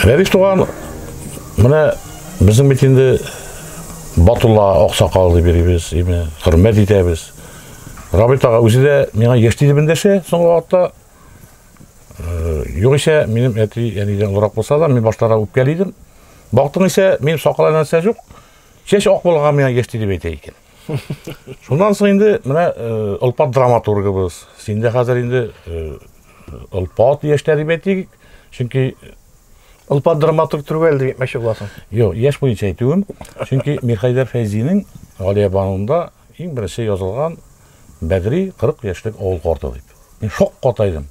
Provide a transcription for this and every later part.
Рәвиш туган, менә безнең бит инде Батулла Аксакал дип йөрибез, име, хөрмәт итәбез. Рабит ага үзе дә миңа яшь диде бендәше, соңгы вакытта Югыйсә, минем әти әнидән олырак булса да, мин баштара үпкәли идем. Бактың исә, мин сакала нәрсә юк. Чәч ак булган миңа яшь дип әйтә икән. Шуннан соң инде менә Олпат драматургыбыз. Синдә хәзер инде Олпат яшьтә дип әйтик. Чөнки Олпат драматург түгел дип мәшһүр буласың. Юк, яшь буенча әйтүем. Чөнки Мирхәйдәр Фәйзинең Галия Банунда Иң беренче язылган Бәгъри 40 яшьлек авыл карты дип. Мин шакката идем.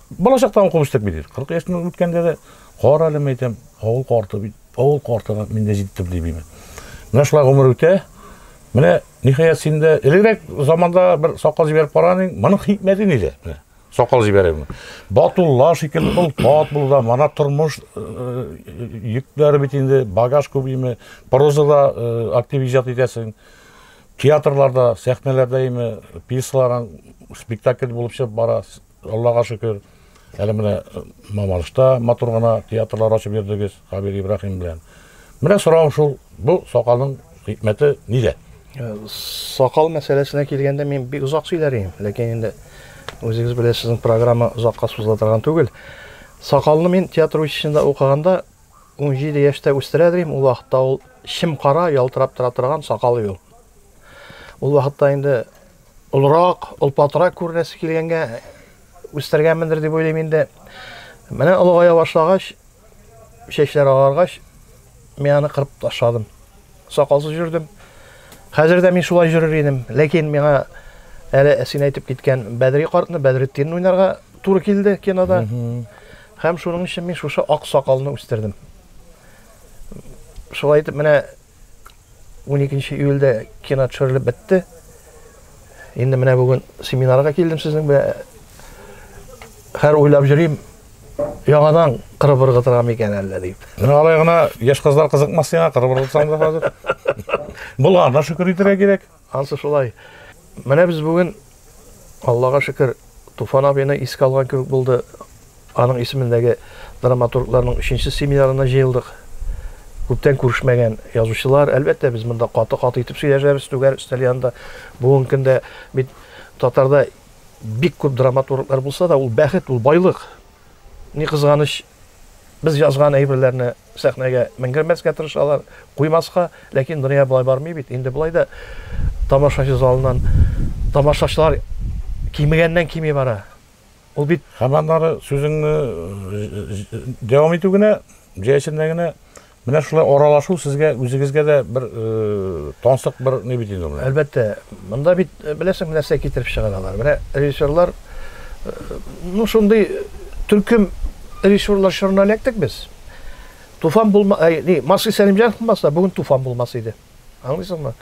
Балачактан укып үстек бит. 40 яшьтән үткәндә дә кара әле мәйтәм, авыл карты бит. Авыл картына мин дә җиттем дип име. Менә шулай гомер үтә. Менә ниһаять син дә элегрәк заманда бер сакал җибәреп караган идең. Моның хикмәте нидә? Менә. Сакал җибәрәме? Батулла шикелле ул тат булуда, мана тормыш э, э, йөкләре бит инде, багаж күбиме, прозада э, актив иҗат итәсең. Театрларда, сәхнәләрдә име, пьесаларың спектакль булып чыгып бара. Аллага шөкер. Әле менә Мамалышта матур гына театрлар ачып йөрдегез. Камил Ибраһим белән. Менә сорау шул, бу сакалның хикмәте нидә? Э, сакал мәсьәләсенә килгәндә мин бик озак сөйләр идем, ләкин инде үзегез белән сезнең программа озакка сузыла торган түгел. Сакалны мин театр училищесында укыганда 17 яшьтә үстерә идем, ул вакытта ул чим кара ялтырап тора торган сакал ул. Ул вакытта инде олырак, олпатырак күренәсе килгәнгә үстергәнмендер дип уйлыйм инде. Менә олыгая башлагач, чәчләр агаргач, мин аны кырып ташладым. Сакалсыз йөрдем. Хәзер дә мин шулай йөрер идем. Ләкин миңа әле син әйтеп киткән Бәдри картны, Бәдретдин уйнарга туры килде кинода. Һәм шуның өчен мин шушы ак сакалны үстердем. Шулай итеп менә 12 июльдә кино төшерелеп бетте. Инде менә бүген семинарга килдем сезнең белән. Хәр уйлап йөрим, яңадан кырып ыргытырга микән әллә дип. Менә алай гына яшь кызлар кызыкмас сиңа кырып ыргытсаң да хәзер. Булганына шөкер итәргә кирәк. Ансы шулай. Менә без бүген, Аллага шөкер, Туфан абыйны искә алган кебек булды. Аның исемендәге драматургларның өченче семинарына җыелдык. Күптән күрешмәгән язучылар, әлбәттә, без монда каты-каты итеп сөйләшәбез түгәр өстәл янында. Бүген көндә бит татарда бик күп драматурглар булса да, ул бәхет, ул байлык. Ни кызганыч, без язган әйберләрне сәхнәгә менгермәскә тырышалар, куймаска, ләкин дөнья болай бармый бит, инде болай да тамашачы залыннан тамашачылар кимегәннән кими бара. Ул бит. Һәм аннары сүзеңне дәвам итү генә, җәясендә генә Менә шулай аралашу сезгә үзегезгә дә бер тансык бер ни бит инде ул. Әлбәттә, монда бит беләсең нәрсә китереп чыгаралар. Менә режиссерлар ну шундый төркем режиссерлар чорына эләктек без. Туфан булма, ни, Марсый Сәлимҗанов булмаса, бүген Туфан булмас иде. Аңлыйсыңмы?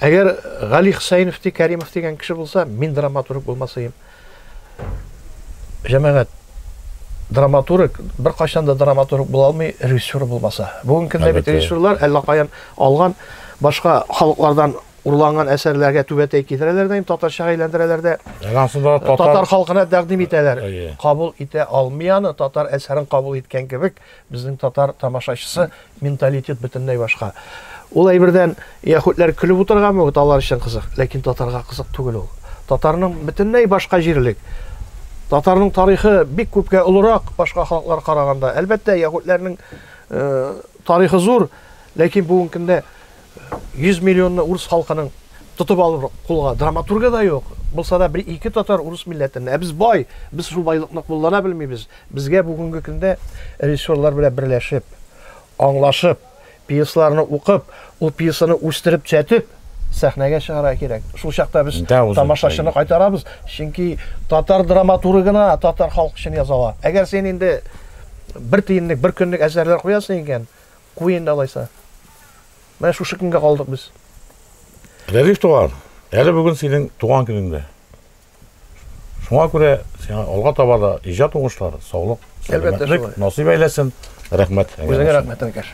Әгәр Гали Хсәйнов ди Кәримов дигән кеше булса, мин драматург булмасыйм. Җәмәгать драматург бер кайчан да драматург була алмый, режиссер булмаса. Бүгенге көндә бит режиссерлар әллә каян алган башка халыклардан урланган әсәрләргә түбәтәй китерәләр дә, татарча әйләндерәләр дә. Татар, татар халкына тәкъдим итәләр. Кабул итә алмый аны, татар әсәрен кабул иткән кебек Безнең татар тамашачысы менталитет бөтенләй башка. Ул әйбердән яһүдләр көлеп утырган мөгет алар өчен кызык, ләкин татарга кызык түгел ул. Татарның бөтенләй башка җирлек. Татарның тарихы бик күпкә олырак башка халыклар караганда. Әлбәттә, яһүдләрнең тарихы зур, ләкин бүгенкендә 100 миллионны урыс халкының тотып алыр кулга драматурга да юк. Булса да бер ике татар урыс милләтеннән. Ә без бай, без шул байлыкны куллана белмибез. Безгә бүгенге көндә режиссерлар белән берләшеп, аңлашып, пьесаларны укып, ул пьесаны үстереп, төзәтеп сәхнәгә чыгарга кирәк. Шул чакта без тамашачыны кайтарабыз, чөнки татар драматургына татар халкы өчен яза ала. Әгәр син инде бер тиенлек, бер көнлек әсәрләр куясың икән, Куй инде алайса. Менә шушы көнгә калдык без. Рәдиф туган, әле бүген синең туган көнең дә. Шуңа күрә сиңа алга таба да иҗат уңышлары, саулык, сәламәтлек насыйп әйләсен. Рәхмәт. Үзеңә рәхмәт, Әнкәш.